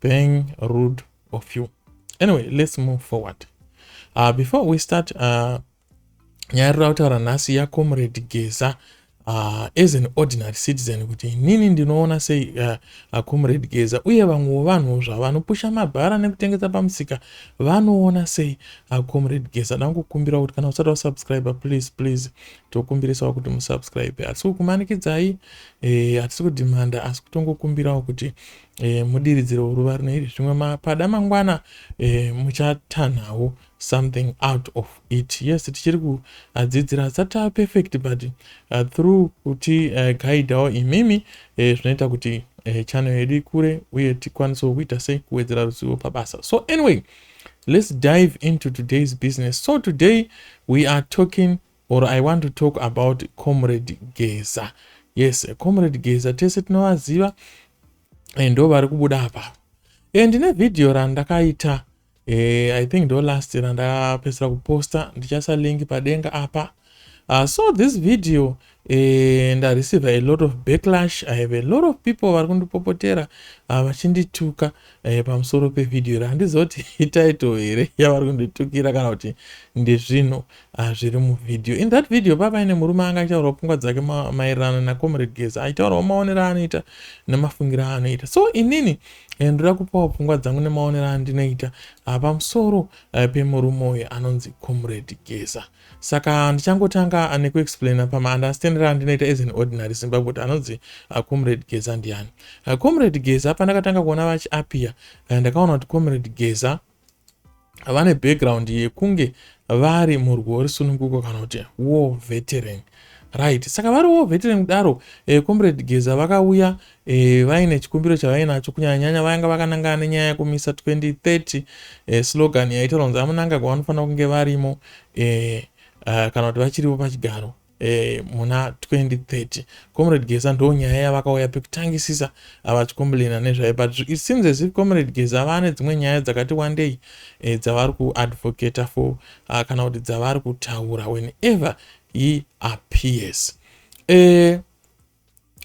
Being rude of you. Anyway, let's move forward. Uh, before we start, uh, nyaya rira kutaura nhasi yacomrade geza uh, as an ordinary citizen kuti inini ndinoona sei uh, uh, comrade geza uye vamwewo vanhuwo zvavo vanopusha mabhara nekutengesa pamusika vanoona sei uh, comrade geza dangokumbirawo kuti kana usati wasubscribe please please tokumbirisawo kuti musubscribe hatisi kukumanikidzai eh, hatisi eh, kudhimanda asi kutongokumbirawo kuti e, mudiridziro woruva rino iri zvimwe mapada mangwana e, muchatanhawo something out of it yes tichiri kuadzidzira asati aperfect but uh, through kuti uh, guidawo imimi e, zvinoita e, kuti e, channel yedu ikure uye tikwanisewo kuita sei kuwedzera ruzivo pabasa so anyway let's dive into today's business so today we are talking or I want to talk about comrade Geza yes comrade Geza tese tinovaziva and ndo vari kubuda apa e, ndine video randakaita e, I think ndo last randapedzera kuposta ndichasa link padenga apa uh, so this video e, ndareceive a lot of backlash I have a lot of people vari kundipopotera ah, vachindituka uh, e, pamusoro pevideo iri handiziva kuti ititle here yavari kunditukira kana kuti ndezvinhu Ah, zviri muvideo in that video baba ine murume anga achitaurawo pfungwa dzake maererano nacomrade geza achitaurawo maonero aanoita nemafungiro aanoita so inini eh, ndoda kupawo pfungwa dzangu nemaonero andinoita ah, pamusoro eh, pemurume uyo anonzi comrade geza saka ndichangotanga ah, nekuexplaina pamaunderstandiro andinoita as an ordinary zimbabwe kuti anonzi comrade geza ndiani comrade geza pandakatanga kuona vachiapia ndakaona kuti comrade geza vane background yekunge vari murwo risununguko kana kuti war veteran right saka vari war veteran kudaro eh, comrade geza vakauya eh, vaine chikumbiro chavainacho kunyanyanyanya vainga vakanangana nenyaya yekumisa 2030 eh, slogan yaitaura kunzi amunangagwa vanofanira kunge varimo eh, uh, kana kuti vachiripo pachigaro eh, muna 2030 comrade geza ndo nyaya yavakauya pekutangisisa avachikomblena nezvayo but it seems as if comrade geza vane dzimwe nyaya dzakati wandei eh, dzavari kuadvocator for uh, kana kuti dzavari kutaura whenever he appears eh,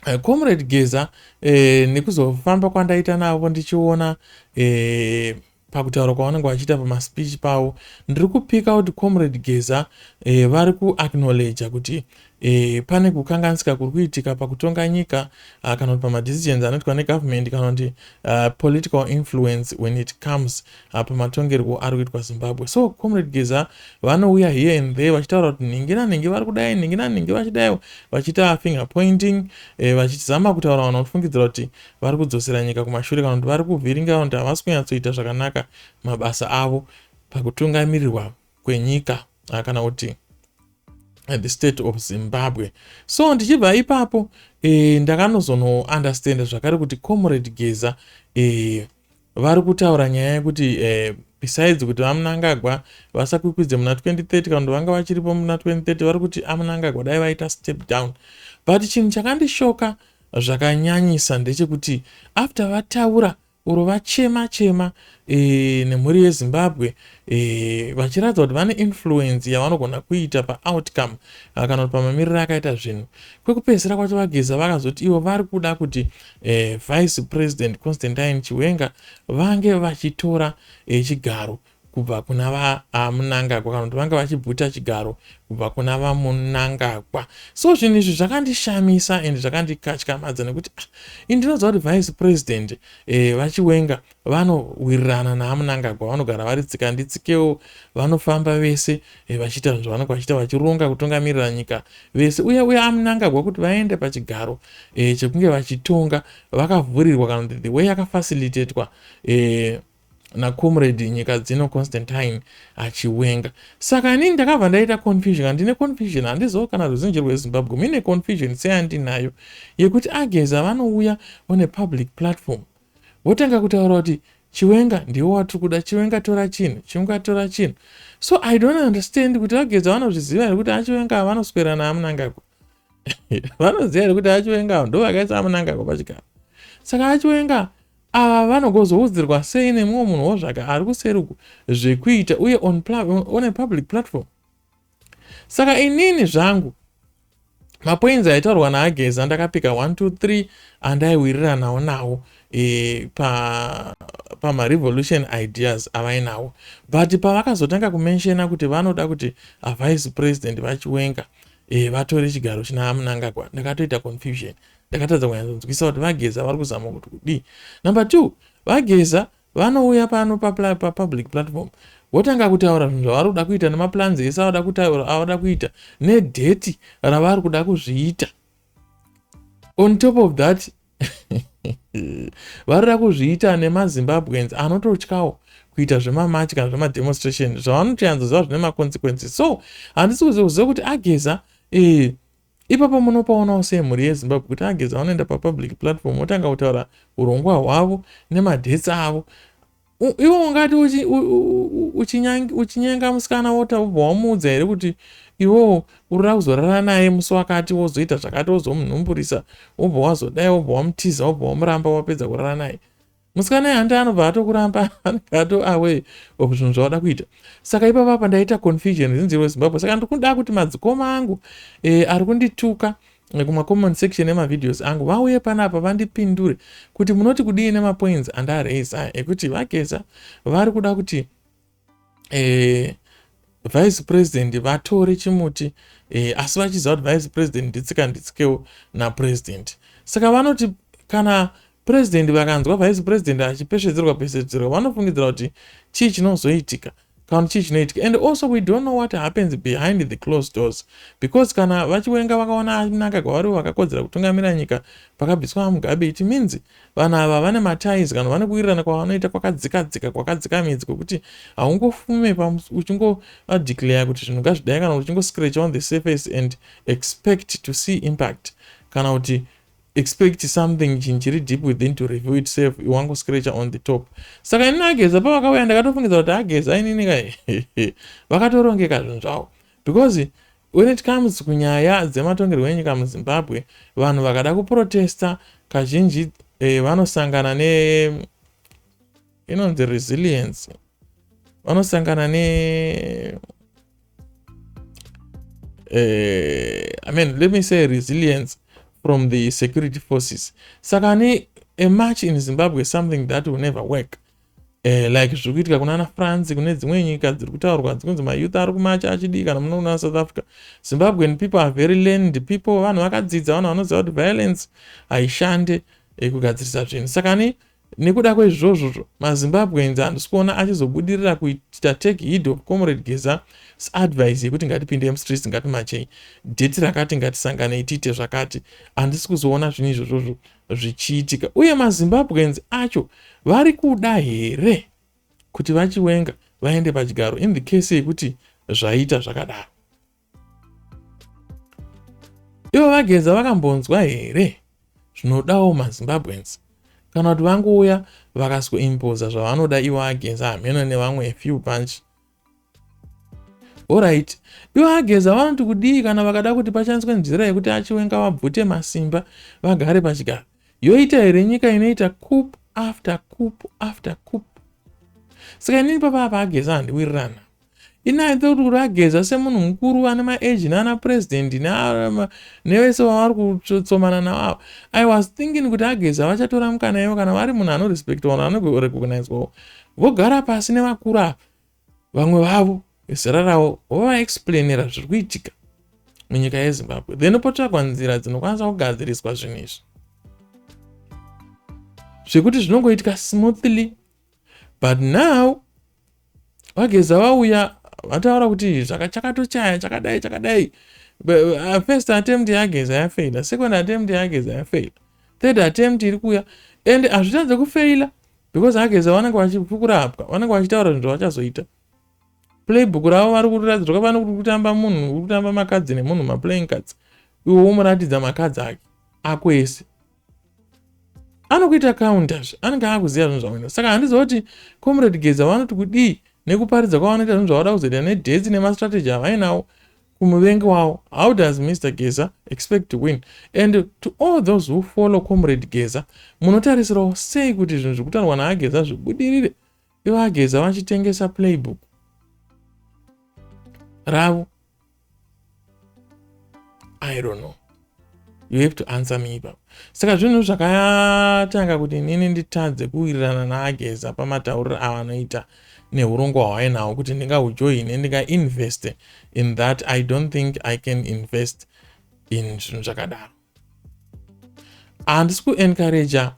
Eh, comrade geza eh, nekuzofamba kwandaita navo ndichiona eh, pakutaura kwavanenge vachiita pamaspeech pavo ndiri kupika kuti comrade geza eh, vari kuacknowledja kuti eh, pane kukanganisika kuri kuitika pakutonga nyika uh, kana kuti pamadecisions anoitwa negovernment kana kuti uh, political influence when it comes apa matongerwo ari kuitwa zimbabwe so comrade geza vanouya here and there vachitaura kuti nhingi nanhingi vari kudai nhingi nanhingi vachidaiwo vachiita finger pointing eh, vachizama kutaura vanhu vanofungidzira kuti vari kudzosera nyika kumashure kana kuti vari kuvhiringa vanhu kuti havasi kunyatsoita zvakanaka mabasa avo pakutungamirirwa kwenyika ah, kana kuti eh, the state of zimbabwe so ndichibva ipapo eh, ndakanozonounderstanda zvakare kuti comrade geza eh, Vari kutaura nyaya yekuti eh, besides kuti vamunangagwa vasakwikwidze muna 2030 kana kuti vanga vachiripo muna 2030 vari kuti amunangagwa dai vaita step down but chinhu chakandishoka zvakanyanyisa ndechekuti after vataura uro vachema chema e, nemhuri yezimbabwe e, vachiratidza kuti vane influence yavanogona kuita paoutcome ah, kana kuti pamamiriro akaita zvinhu kwekupedzisira kwacho vageza vakazoti ivo vari kuda kuti eh, Vice President Constantine Chiwenga vange vachitora eh, chigaro kubva kuna vamunangagwa ah, kana kuti vanga vachibvuta chigaro kubva kuna vamunangagwa so zvinhu izvi zvakandishamisa and zvakandikatyamadza nekuti ah, ini ndinoziva kuti vice president eh, vachiwenga Vanowirirana naMnangagwa vanogara vari tsika nditsikewo, vanofamba vese eh, vachiita zvinhu zvavanenge vachiita vachironga kutungamirira nyika vese. Uye uye aMnangagwa kuti vaende pachigaro eh, chekunge vachitonga vakavhurirwa kana kuti the way yakafacilitatwa eh, nacomrade nyika dzino constantine achiwenga saka inini ndakabva ndaita confusion handine confusion handizivo kana ruzhinji rwezimbabwe muine confusion seyandinayo yekuti ageza vanouya on a public platform votanga kutaura kuti chiwenga ndiwo watiri kuda chiwenga tora chinhu chiwenga tora chinhu so i don't understand kuti vageza vanozviziva here kuti achiwenga vanoswera naamunangagwa vanoziva here kuti achiwenga ndo vakaisa amunangagwa pachigaro saka achiwenga ava vanogozoudzirwa sei nemumwe munhu wozvaka ari kuseri uku zvekuita uye on, on a public platform saka inini zvangu mapoinzi aitaurwa naageza ndakapika 123 andaiwiriranawo nawo e, pamarevolution pa ideas avainawo but pavakazotanga kumenshena kuti vanoda kuti avice president vachiwenga e, vatore chigaro china amunangagwa ndakatoita confusion ndakatadza kunyatsanzwisa kuti vageza vari kuzama kuti kudii number two vageza Vanouya pano papublic platform votanga kutaura zvinhu zvavari kuda kuita nemaplans ese avada kutaura avada kuita nedheti ravari kuda kuzviita on top of that varida kuzviita nemazimbabweans anototyawo kuita zvemamachi kana zvemademonstration zvavanotoyanzoziva zvine maconsequences so handisi kuziva kuziva kuti ageza eh, Ipapo munopaonawo sei mhuri yezimbabwe kuti ageza vanoenda papublic platform votanga kutaura urongwa hwavo nemadhets avo iwe ungati uchinyenga musikana wota ubva wamuudza here kuti iwewo urira kuzorara naye musi wakati wozoita zvakati wozomunhumburisa wobva wazodai wobva wamutiza wobva wamuramba wapedza kurara naye musikana yehande anobva atokuramba anenge ato away of zvinhu zvauda kuita saka ipa papa ndaita confusion zinziri wezimbabwe saka ndikuda kuti madzikoma angu e, ari kundituka eh, kumacommon section emavideos angu vauye panapa vandipindure kuti munoti kudii nemapoints andaraiza ekuti vageza vari kuda kuti eh, vice president vatore chimuti eh, asi vachiziva kuti vice president nditsika nditsikewo napresident saka vanoti kana president vakanzwa vice president achipesvedzerwa pesvedzerwa vanofungidzira kuti chii chinozoitika kana chii chinoitika and also we don't know what happens behind the closed doors because kana vachiwenga vakaona anaka kwavari vakakodzera kutungamira nyika pakabviswa mugabe it means Vanhu ava vane maties kana vane kuwirirana kwavanoita kwakadzikadzika kwakadzika midzi kwekuti haungofume uchingovadeclare kuti zvinhu ngazvidai kana kuti uchingoscratch on the surface and expect to see impact kana kuti expect something chinhu chiri deep within to review itself iwangoscratcha on the top saka inini ageza pavakauya ndakatofungidza kuti ageza inini ka vakatorongeka zvinhu zvavo because When it comes kunyaya dzematongerwo enyika muZimbabwe, vanhu vakada kuprotesta kazhinji eh, vanosangana ne inonzi resilience vanosangana ne eh, I mean, let me say resilience from the security forces saka ne a march in Zimbabwe something that will never work eh, like zviri kuitika kuna anafrance kune dzimwe nyika dziri kutaurwa dzikunzi mayouth ari kumacha achidii kana muno kuna south africa zimbabwean people are very land people vanhu vakadzidza vanhu vanoziva kuti violence haishande eh, kugadzirisa zvinhu saka ni nekuda kwezvozvozvo mazimbabweans handisi kuona achizobudirira kuita take head of comrade geza seadvise yekuti ngatipinde mstreets ngatimachei deti rakati ngatisanganei tiite zvakati handisi kuzoona zvinhu izvozvozvo zvichiitika uye mazimbabweans acho vari kuda here kuti vachiwenga vaende pachigaro in the case yekuti zvaita zvakadaro ivo vageza vakambonzwa here zvinodawo mazimbabweans kana kuti vangouya vakazoimpoza zvavanoda ivo ageza hameno nevamwe few bunch Horaiti, ivo ageza vanoti kudii kana vakada kuti pashandiswe nzira yekuti achiwenga vabvute masimba vagare pachigaro? Yoita here nyika inoita coup after coup after coup? Saka inini papa apa ageza handiwirirana. Ini aita kuti kuti ageza semunhu mukuru vane maeji naana president nevese vavari kutsomana navo ava. I was thinking kuti ageza vachatora mukana ivo kana vari munhu anorespectwa vanhu vanorecognizwawo. vogara pasi nevakuru ava vamwe vavo vezera ravo vovaexplainira zviri kuitika munyika yezimbabwe then potsvagwa nzira dzinokwanisa kugadziriswa zvinhu izvi zvekuti zvinongoitika smoothly but now vageza vauya vataura kuti zvakachakatochaya chakadai chakadai uh, first attempt yageza yafeila second attempt yageza yafeila third attempt iri kuya and hazvitadze kufeila because ageza vanenge vachikurapwa vanenge vachitaura zvinhu zvavachazoita playbook ravo vari kuriratidza zvakafana kuti kutamba munhu uri kutamba makadzi nemunhu maplaying cards iwe womuratidza makadzi ake ako ese anokuita counter zve anenge akuziva zvinhu zvamwena saka handiziva kuti comrade geza vanoti kudii nekuparidza kwavanoita zvinhu zvavada kuzoita nedetsi nemastrategy avainawo kumuvengi wavo how does Mister Geza expect to win and to all those who follow comrade Geza munotarisirawo sei kuti zvinhu zvikutarwa naageza zvibudirire ivo ageza vachitengesa playbook ravo i don't know you have to answer me ipapo saka zvinhu zvakatanga kuti inini nditadze kuwirirana naageza pamatauriro avanoita neurongwa hwainawo kuti ndingahujoine ndingainveste in that i don't think i can invest in zvinhu zvakadaro handisi kuencouraja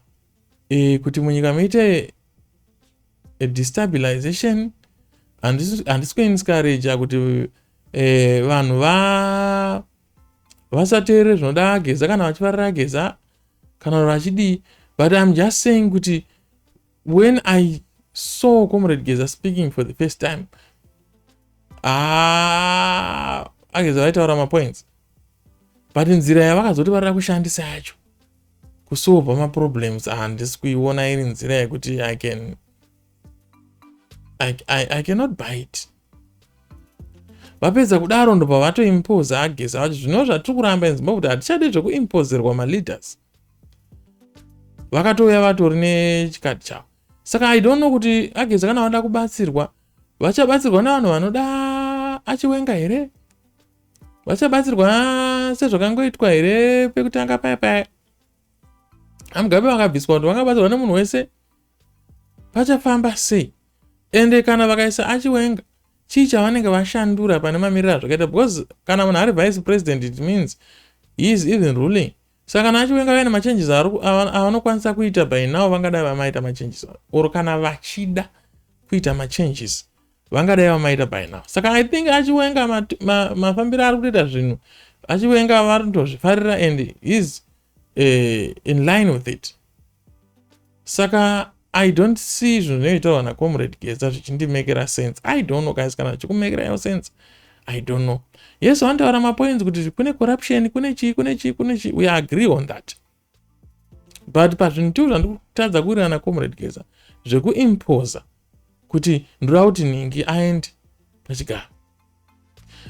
e, kuti munyika muite destabilization handisi kuencouraja kuti e, vanhu va vasateerere zvinoda ageza kana vachivarira ageza kana vachidii but im just saying kuti when i saw comrade geza speaking for the first time ah, ageza vaitaura mapoints but nzira yavakazoti varira kushandisa yacho kusolva maproblems handisi ah, kuiona iri nzira yekuti i can I, I, I cannot buy it vapedza kudaro ndobva vatoimposa ageza vati zvino zvatiri kuramba in zimbabwe kuti hatichade zvekuimpozerwa maleaders vakatouya vatori nechikati chavo saka i don't know kuti ageza kana vanoda kubatsirwa vachabatsirwa navanhu vanoda achiwenga here vachabatsirwa sezvakangoitwa here pekutanga paya paya amugabe vakabviswa kuti vangabatsirwa nemunhu wese pachafamba sei ende kana vakaisa achiwenga chii chavanenge vashandura pane mamiriro azvakaita because kana munhu ari vice president it means he is even ruling saka kana achiwenga vaine machanges avanokwanisa kuita by now vangadai vamaita machanges or kana vachida kuita machanges vangadai vamaita by now saka i think achiwenga mafambiro ari kutoita zvinhu achiwenga vanotozvifarira and is uh, in line with it saka i don't see zvinhu zvinoitaurwa nacomrade geza zvichindimekera sense i don't know guys kana zvichikumekera yo sense i don't know yesu anotaura mapoints kuti kune corruption kune chii kune chii kune chii we agree on that but pazvinhu tiu zvandikutadza kuwirirana comrade geza zvekuimposa kuti ndoda kuti nhingi aende pachigaro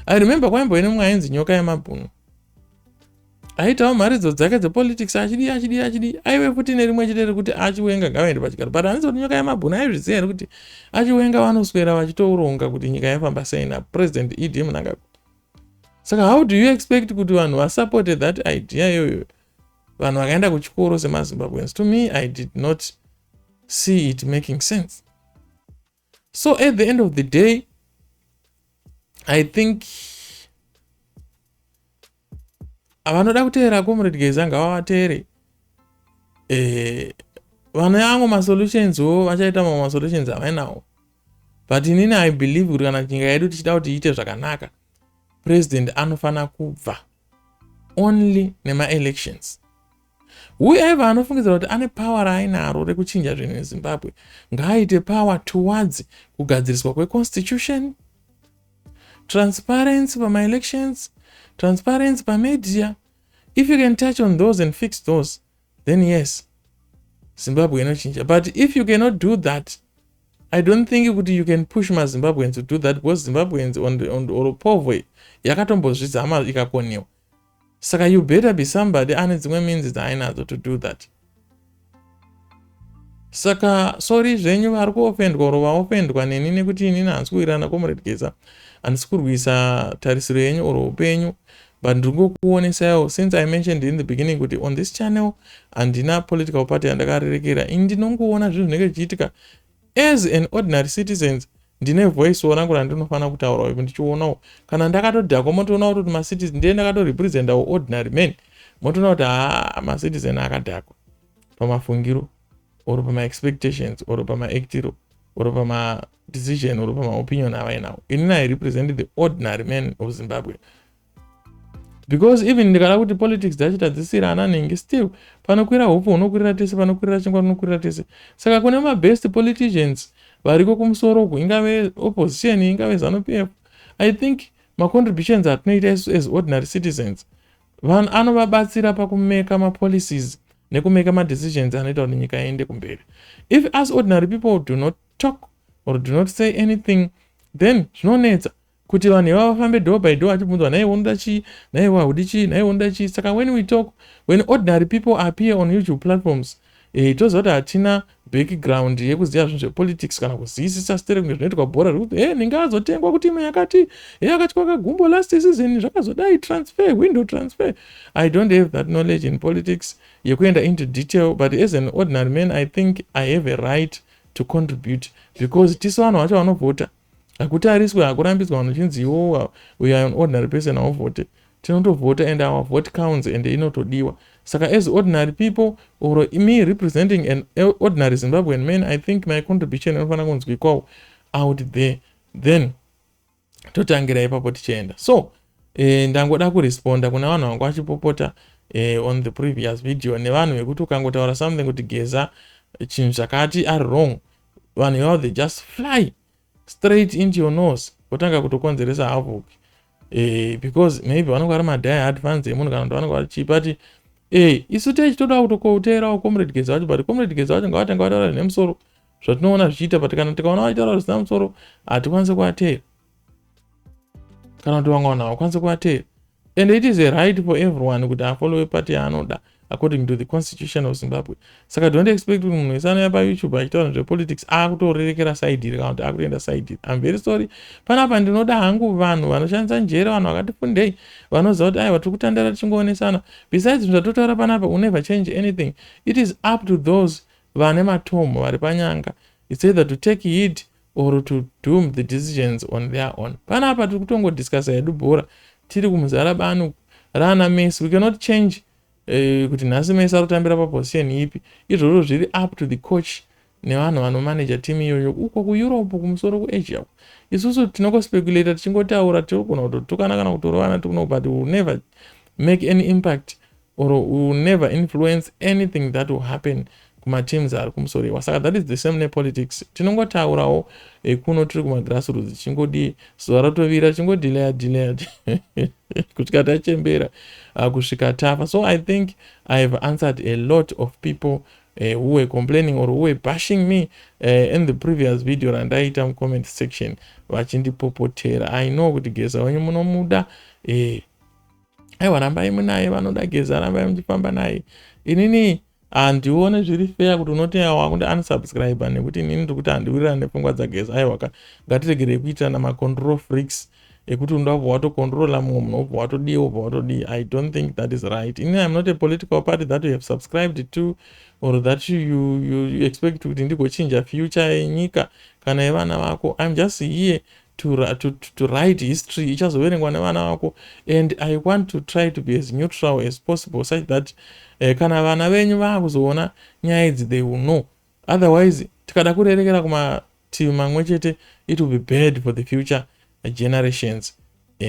i remember kwaimbove nemwe ainzi nyoka yemabhunu aitawo mharidzo dzake dzepolitics achidii achidii achidii aive futi nerimwe chete rekuti achiwenga ngavaende pachigaro but handizi kuti nyoka yemabhunu aizviziva here kuti achiwenga vanoswera vachitouronga kuti nyika yaifamba sei napresident ed munangagwa saka how do you expect kuti vanhu vasupporte that idea iyoyo vanhu vakaenda kuchikoro semazimbabweans to me i did not see it making sense so at the end of the day i think avanoda kuteera comrade geza ngavavateere eh, vane amwe masolutions wo vachaita mamwe masolutions avainawo but inini i believe kuti kana nyika yedu tichida kuti iite zvakanaka president anofanira kubva only nemaelections Whoever anofungidzira kuti ane power raainaro rekuchinja zvinhu neZimbabwe ngaaite power towards kugadziriswa kweconstitution, transparency pamaelections, transparency pamedia. If you can touch on those and fix those, then yes, Zimbabwe inochinja. But if you cannot do that, I don't think kuti you can push maZimbabweans to do that because Zimbabweans on, on, or Povwe yakatombozvizama ikakoniwa. saka you better be somebody ane dzimwe minzi dzaainadzo to do that saka sori zvenyu vari kuofendwa oro vaofendwa neni nekuti inini handisi kuwirana comrade geza handisi kurwisa tarisiro yenyu oro upenyu but ndiri ngokuonesaiwo since i mentioned in the beginning kuti on this channel handina political party yandakarerekera ini ndinongoona zvinhu zvinenge zvichiitika as an ordinary citizens ndine voice wo rangu randinofanira kutaurawo ivo ndichionawo kana ndakatodhakwa motoona kutoti macitizen ndiye ndakatorepresentawo ordinary man motoona kuti haa macitizen akadhakwa pamafungiro or pamaexpectations or pamaactiro or pamadecision or pamaopinion avainawo inini i represent the ordinary man of zimbabwe because even ndikada kuti politics dzacho tadzisira ana nhingi still panokwira hupfu hunokwirira tese panokwirira chingwa rinokwirira tese saka kune mabest politicians variko kumusoro uku ingave opposition ingave zanupf i think macontributions atinoita isu as ordinary citizens vanhu anovabatsira pakumeka mapolicies nekumeka madecisions anoita kuti nyika iende kumberi if us ordinary people do not talk or do not say anything then zvinonetsa kuti vanhu ivavo vafambe door by door achibvunzwa nhaiwe unoda chii nhaiwe haudi chii nhaiwe unoda chii saka when we talk when ordinary people appear on youtube platforms eh, toziva kuti hatina background yekuziva zvinhu zvepolitics kana kuziyisisa stere kunge zvinoitwa bhora zvekuti e eh, ninga azotengwa kutimu yakati e eh, akatyoka gumbo last season zvakazodai transfer window transfer i don't have that knowledge in politics yekuenda into detail but as an ordinary man i think i have a right to contribute because tisu vanhu vacho vanovhota hakutariswe hakurambidzwa vanhu chinzi iwowa uyo an ordinary person hauvhote tinotovhota and our vote counts and inotodiwa saka as ordinary people or me representing an ordinary zimbabwean man i think my contribution inofanira kunzwikwawo out there then totangira ipapo tichienda so eh, ndangoda kuresponda kuna vanhu vanga vachipopota eh, on the previous video nevanhu vekuti ukangotaura something kuti geza chinhu chakati ari wrong vanhu ivavo they just fly straight into your nose votanga kutokonzeresa havoc e, because maybe vanenge vari madhaya advance emunhu kana kuti vanenge vari chii but e, isu tei chitoda kutokoteerawo comrade geza vacho but comrade geza vacho ngavatanga vataura zvinemusoro zvatinoona zvichiita but kana tikaona vachitaura zvisina musoro hatikwanise kuvateera kana kuti vamwe vanhu havakwanise kuvateera and it is a right for everyone kuti afollowe party yaanoda according to the constitution of zimbabwe saka don't expect kuti munhu wese anouya payoutube achitaura zvepolitics akutorerekera side iri kana kuti akutoenda side iri im very sorry panapa ndinoda hangu vanhu vanoshandisa njere vanhu vakati fundei vanoziva kuti aiwa tiri kutandara tichingoonesana besides zvinhu zvatotaura panapa unever change anything it is up to those vane matomo vari panyanga its either to take heed or to doom the decisions on their own pana apa tiri kutongo discussa hedu bhora tiri kumuzara bani raana mesi we cannot change uh, kuti nhasi mesi ari kutambira paposition ipi izvozvo zviri up to the coach nevanhu vanomanaja team iyoyo uko kueurope kumusoro kuasia uko isusu tinokospeculator tichingotaura tinogona kutotukana kana kutorovana tikuno but will never make any impact or u will never influence anything that will happen kumateams ari kumusoriwa saka that is the same nepolitics tinongotaurawo eh, kuno tiri kumagrassroots chingodii zuva ratovira chingodilaya dilaya kusvika tachembera ah, kusvika tafa so i think i have answered a lot of people eh, who were complaining or who were bashing me eh, in the previous video randaiita mucomment section vachindipopotera i know kuti geza wenyu munomuda eh, aiwa rambai munaye vanoda geza rambai muchifamba naye inini handione zviri feya kuti unoteya wakuti unsubscribe nekuti inini ndiri kuti handiwirirani nepfungwa dzageza aiwaka ngatiregerei kuitirana macontrol freaks ekuti unoda kubva watocontrola mumwe munhu wobva watodii wobva watodii i don't think that is right inini im not a political party that you have subscribed to or that you, you, you expect kuti ndigochinja future yenyika kana yevana vako im just here to, to, to, to write history ichazoverengwa nevana vako and i want to try to be as neutral as possible such that eh, kana vana venyu vaakuzoona nyaya idzi they will know otherwise tikada kurerekera kumativi mamwe chete it will be bad for the future generations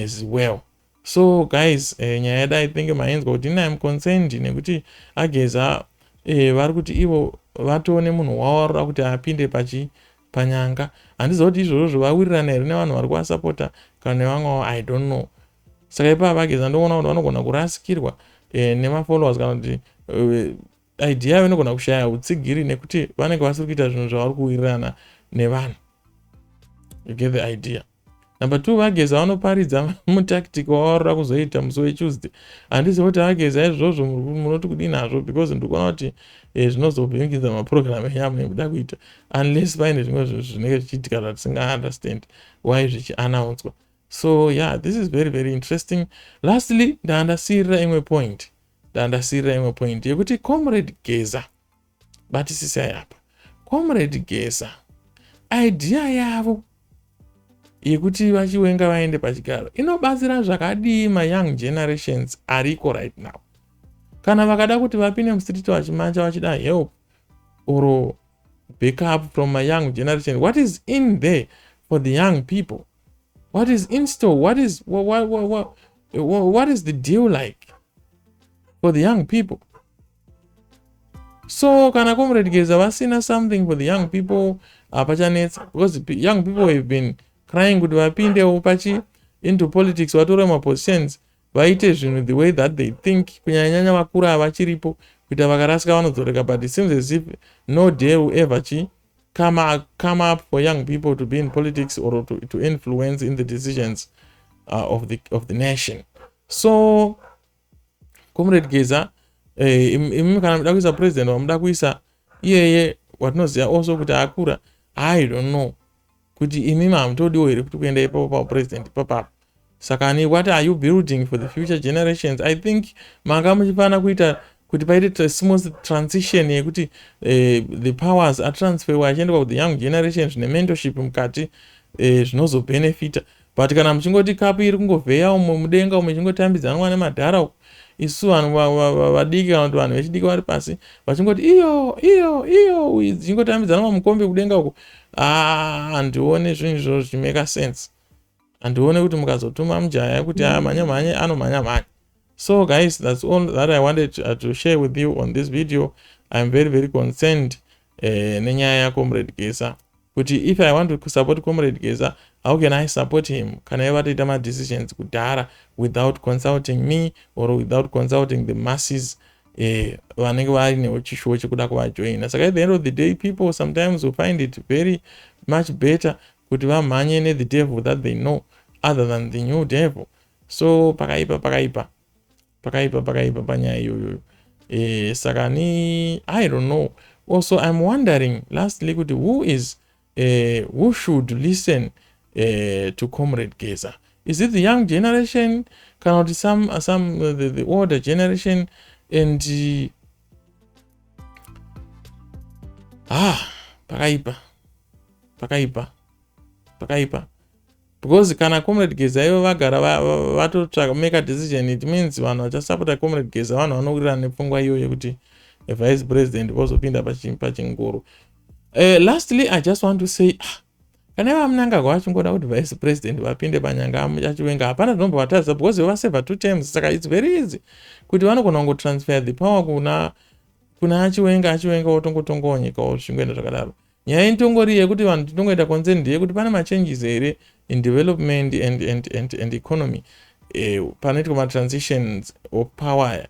as well So guys eh, nyaya yada i think mainzwa kuti ini im concerned nekuti ageza eh, vari kuti ivo vatoone munhu wawarura kuti apinde pachi panyanga handiziva kuti izvozvo zvovawirirana here nevanhu vari kuvasapota kana nevamwe wavo i don't know saka ipava vageza ndoona kuti vanogona kurasikirwa eh, nemafollowers kana kuti eh, Idea yavo inogona kushaya hutsigiri nekuti vanenge vasiri kuita zvinhu zvavari kuwirirana nevanhu. You get the idea. Number two, vageza vanoparidza mutactic wavaroda kuzoita musi wetuesday. Handiziva kuti vageza izvozvo munoti kudii nazvo because ndikuona kuti eh, zvinozovhiringidza maprogram enyu amunoda kuita unless paine zvimwe zvinhu zvinenge zvichiitika zvatisingaaunderstand why zvichianaunswa. So yeah, this is very very interesting. Lastly, ndaandasiyirira imwe point. Ndandasirira imwe point yekuti comrade Geza batisisai apa. Comrade Geza idea yavo yekuti vachiwenga vaende pachigaro inobatsira zvakadii mayoung generations ariko right now kana vakada kuti vapinde mustreet vachimanja vachida help or backup from mayoung generation what is in there for the young people what is instore what is what, what, what, what, what, what is the deal like for the young people so kana comrade geza vasina something for the young people hapachanetsa uh, because young people have been crying kuti vapindewo pachi into politics vatore mapositions vaite zvinhu the way that they think kunyanyanyanya vakura havachiripo kuita vakarasika vanodzoreka but it seems as if no day will ever chi come, come up for young people to be in politics or to, to influence in the decisions uh, of, the, of the nation so comrade geza eh, imi kana muda kuisa president wamuda kuisa iyeye watinoziva also kuti akura i don't know kuti imimi hamutodiwo here kuti kuenda ipapo paupresident ipapapo saka ni what are you building for the future generations i think manga muchifana kuita kuti paite smooth transition yekuti uh, the powers atransferwa achiendekwa kuth young generations nementorship mukati eh, zvinozobhenefita uh, But kana muchingoti cup iri kungovheya umo mudenga umo ichingotambidzanwa nemadhara uko isu vanhu vadiki kana kuti vanhu vechidiki vari pasi vachingoti iyo iyo iyo dzichingotambidzana mamukombe kudenga uko ah, handione zvinhu izvozvo zvichimeka sense handione kuti mukazotuma mujaya kuti aya ah, mhanya mhanye anomhanya mhanya so guys that's all that i wanted to, uh, to share with you on this video iam very very concerned eh, nenyaya yako muredgesa kuti if i want to support comrade geza how can i support him kana iye vatoita madecisions kudhara without consulting me or without consulting the masses eh, vanenge vainewo chishuwo chekuda kuvajoina saka at the end of the day people sometimes will find it very much better kuti vamhanye nethe devil that they know other than the new devil so pakaipa pakaipa Pakaipa pakaipa panyaya iyoyo. Eh saka ni I don't know. Also I'm wondering lastly kuti who is uh, who should listen uh, to Comrade Geza? Is it the young generation kana kuti some some uh, the, the older generation and uh, ah pakaipa pakaipa pakaipa Because kana comrade Geza ivo vagara vatotsvaka make a decision it means vanhu vachasapota comrade Geza vanhu vanowirirana nepfungwa iyo yekuti vice president vozopinda pachingoro. Uh, lastly I just want to say ah, kana iva munangagwa vachingoda kuti vice president vapinde panyanga achiwenga hapana zvinombovatadza because vovaseva two terms saka it's very easy kuti vanogona kungotransfer the power kuna kuna achiwenga achiwenga wotongotongawo nyika wo zvingoenda zvakadaro Nyaya inotongori yekuti vanhu tinongoita concern ndeyekuti pane machanges here in development and, and, and, and economy eh, panoitwa matransitions of power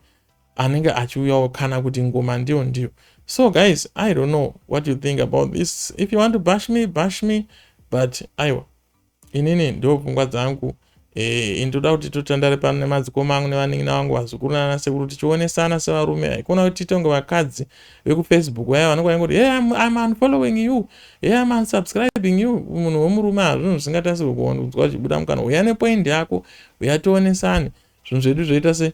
anenge achiuyawo kana kuti ngoma ndiyo ndiyo so guys i don't know what you think about this if you want to bash me bash me but aiwa inini ndo pfungwa dzangu eh, ini toda kuti totandare pano nemadzikoma angu nevanin'ina vangu vazukuru nana sekuru tichionesana sevarume haikona kuti titonge vakadzi vekufacebook vaya vanenge vaingoti hey, I'm, I'm unfollowing you hey, I'm unsubscribing you munhu wemurume hazvinhu zvisingatasirwe kuonzwa zvichibuda mukana uya nepoindi yako uya tionesane zvinhu zvedu zvoita se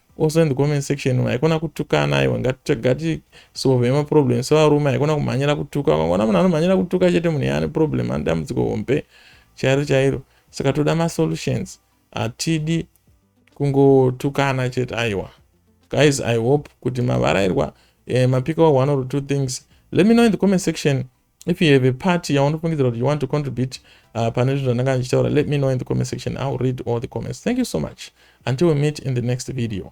also in the comment section haikona kutukana aiwa ngatisolve maproblem sevarume haikona kumhanyira kutuka ukangoona munhu anomhanyira kutuka chete munhu yaane problem ane dambudziko hombe chairo chairo saka toda masolutions hatidi kungotukana chete aiwa guys i hope kuti mavarairwa eh, mapika wa one or two things let me know in the comment section if you have a party yaunofungidzira kuti you want to contribute uh, pane zvinhu zvandanga ndichitaura let me know in the comment section iwill read all the comments thank you so much until we meet in the next video